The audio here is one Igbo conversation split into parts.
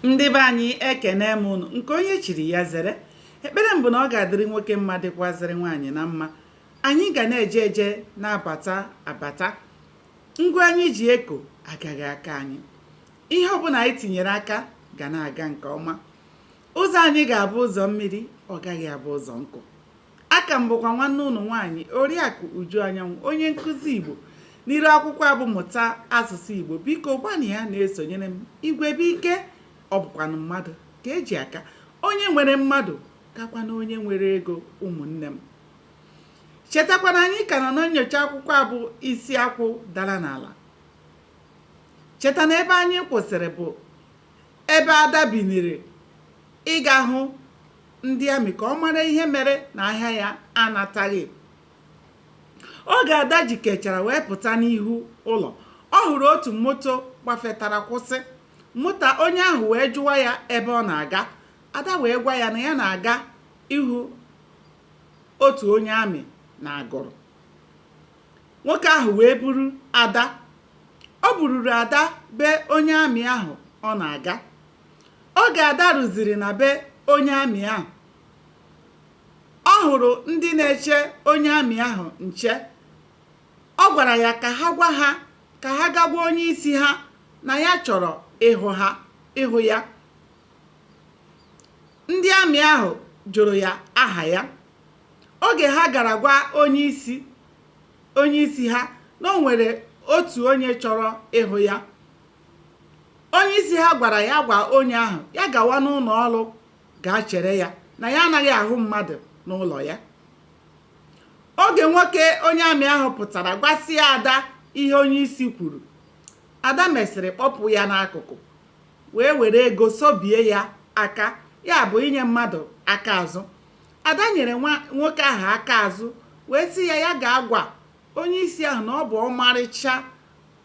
ndị be anyị ekene m ụnụ nke onye chiri ya zere ekpere mbụ na ọ ga-adịrị nwoke mma dịkwazịrị nwaanyị na mma anyị ga na-eje eje na-abata abata ngwa anyị ji eko agaghị akọ anyị ihe ọbụla anyị tinyere aka ga na-aga nke ọma ụzọ anyị ga-abụ ụzọ mmiri ọ gaghị abụ ụzọ nkụ A ka m bụkwa nwanne ụnụ nwaanyị Oriakụ Uju Anyanwụ, onye nkụzi Igbo n'iru akwụkwọ a bụ Mụta Asụsụ Igbo. Biko gbanụ ya na-esonyere m. Igwe bụ ike, ọ bụkwanụ mmadụ ka e ji aka. Onye nwere mmadụ kakwana onye nwere ego ụmụnne m. Chetakwa na anyị ka nọ na nnyocha akwụkwọ a bụ Isi Akwụ Dara n'Ala. Cheta na ebe anyị kwụsịrị bụ ebe Ada biniri ịga hụ ndị amị ka ọ mara ihe mere na ahịa ya anataghị oge ada jikechara wee pụta n'ihu ụlọ ọ hụrụ otu moto gbafetara kwụsị moto onye ahụ wee jụwa ya ebe ọ na-aga ada wee gwa ya na ya na-aga ịhụ otu onye amị na agụrụ nwoke ahụ wee buru ada o bururu ada be onye amị ahụ ọ na-aga oge ada ruziri na be onye amị ahụ ọ hụrụ ndị na-eche onye amị ahụ nche ọ gwara ya ka ha gwa ha ka ha gaa gwa onye isi ha na ya chọrọ ịhụ ha ịhụ ya ndị amị ahụ jụrụ ya aha ya oge ha gara gwa onye isi onye isi ha na o nwere otu onye chọrọ ịhụ ya onye isi ha gwara ya gwa onye ahụ ya gawa n'ụlọ ọrụ gaa chere ya na ya anaghị ahụ mmadụ n'ụlọ ya oge nwoke onye amị ahụ pụtara gwasịa ada ihe onye isi kwuru ada mesịrị kpọpụ ya n'akụkụ wee were ego sobie ya aka ya bụ inye mmadụ aka azụ ada nyere nwoke ahụ aka azụ wee sị ya ya gaa gwa onye isi ahụ na ọ bụ ọmarịcha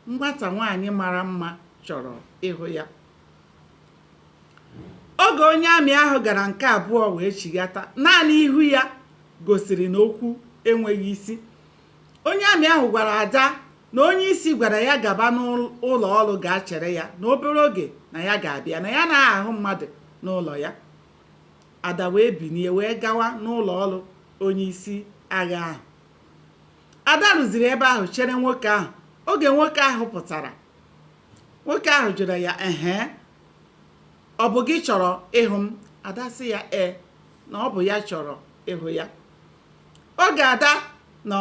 Nwata nwaanyị mara mma chọrọ ịhụ ya. Oge onye amị ahụ gara nke abụọ wee chighata, naanị ihu ya gosiri na okwu enweghị isi. Onye amị ahụ gwara Ada na onye isi gwara ya gaba n'ụlọ ọrụ gaa chere ya na obere oge na ya ga-abịa, na ya anaghị ahụ mmadụ n'ụlọ ya. Ada wee binie wee gawa n'ụlọ ọrụ onye isi agha ahụ ada ruziri ebe ahụ chere nwoke ahụ oge nwoke ahụ pụtara nwoke ahụ jụrụ ya ehe ọ bụ gị chọrọ ịhụ m ada sị ya ee na ọ bụ ya chọrọ ịhụ ya oge ada na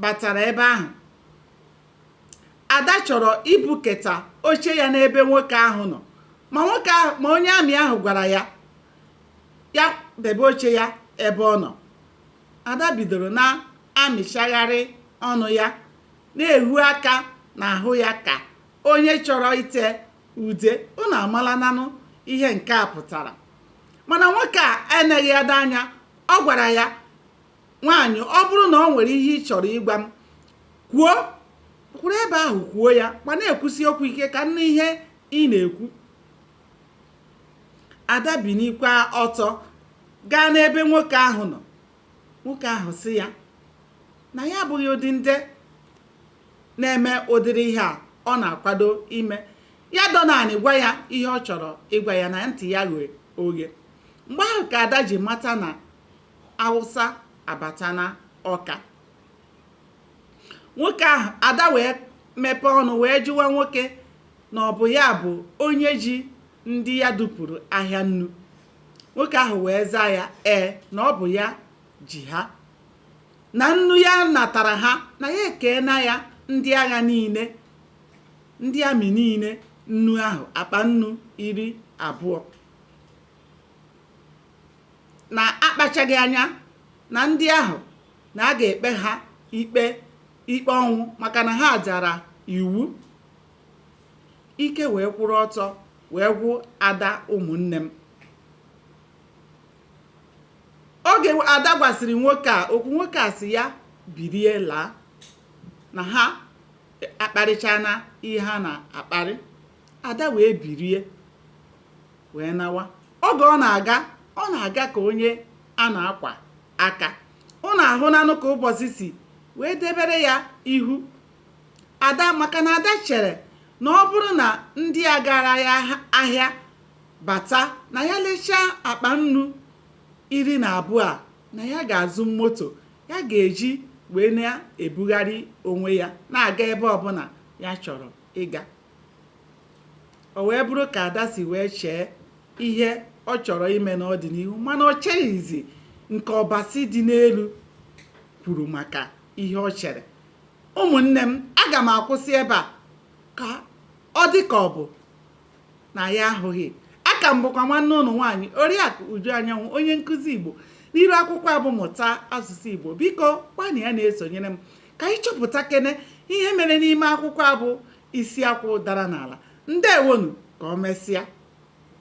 batara ebe ahụ ada chọrọ ibuketa oche ya n'ebe nwoke ahụ nọ ma onye amị ahụ gwara ya ya debe oche ya ebe ọ nọ Ada bidoro na-amịchagharị ọnụ ya, na-ehu aka n'ahụ ya ka onye chọrọ ite ude. Unu amalananụ ihe nke a pụtara. Mana nwoke a eneghị Ada anya. Ọ gwara ya, Nwaanyị, ọ bụrụ na o nwere ihe ị chọrọ ịgwa m, kwuo. Kwụrụ ebe ahụ kwuo ya ma na-ekwusi okwu ike ka m nụ ihe ị na-ekwu. ada binikwa ọtọ gaa n'ebe nwoke ahụ nọ nwoke ahụ sị ya na ya abụghị ụdị ndị na-eme ụdịrị ihe a ọ na-akwado ime ya dọ naanị gwa ya ihe ọ chọrọ ịgwa ya na ntị ya ghe oghe mgbe ahụ ka ada ji mata na awụsa abatana ọka nwoke ahụ ada wee mepee ọnụ wee jụwa nwoke na ọ bụ ya bụ onye ji ndị ya dupụrụ ahịa nnu nwoke ahụ wee zaa ya ee na ọ bụ ya ji ha na nnu ya natara ha na ya ekeena ya ndị agha niile ndị amị niile nnu ahụ akpa nnu iri abụọ na akpachaghị anya na ndị ahụ na a ga-ekpe ha ikpe ikpe ọnwụ maka na ha dara iwu ike wee kwụrụ ọtọ wee gwụ ada ụmụnne m oge ada gwasịrị nwoke a okwu nwoke a sị ya birie laa na ha akparịchana ihe ha na-akparị ada wee birie wee nawa oge ọ na-aga ọ na-aga ka onye a na-akwa aka unu ahụnanụ ka ụbọchị si wee debere ya ihu ada maka na ada chere na ọ bụrụ na ndị a gara ya ahịa bata na ya lechaa akpa nnu iri na abụọ a na ya ga-azụ moto ya ga-eji wee na-ebugharị onwe ya na-aga ebe ọbụna ya chọrọ ịga o wee bụrụ ka ada si wee chee ihe ọ chọrọ ime n'ọdịnihu mana o cheghịzi nke ọbasi dị n'elu kwuru maka ihe o chere ụmụnne m aga m akwụsị ebe a ka ọ dị ka ọ bụ na anyị ahụghị aka m bụkwa nwanne ụnụ nwaanyị oriakụ uju anyanwụ onye nkuzi igbo n'iru akwụkwọ a bụ mụta asụsụ igbo biko gbanịa na-esonyere m ka anyị chọpụtakene ihe mere n'ime akwụkwọ a bụ isi akwụ dara n'ala ndewonu ka o mesịa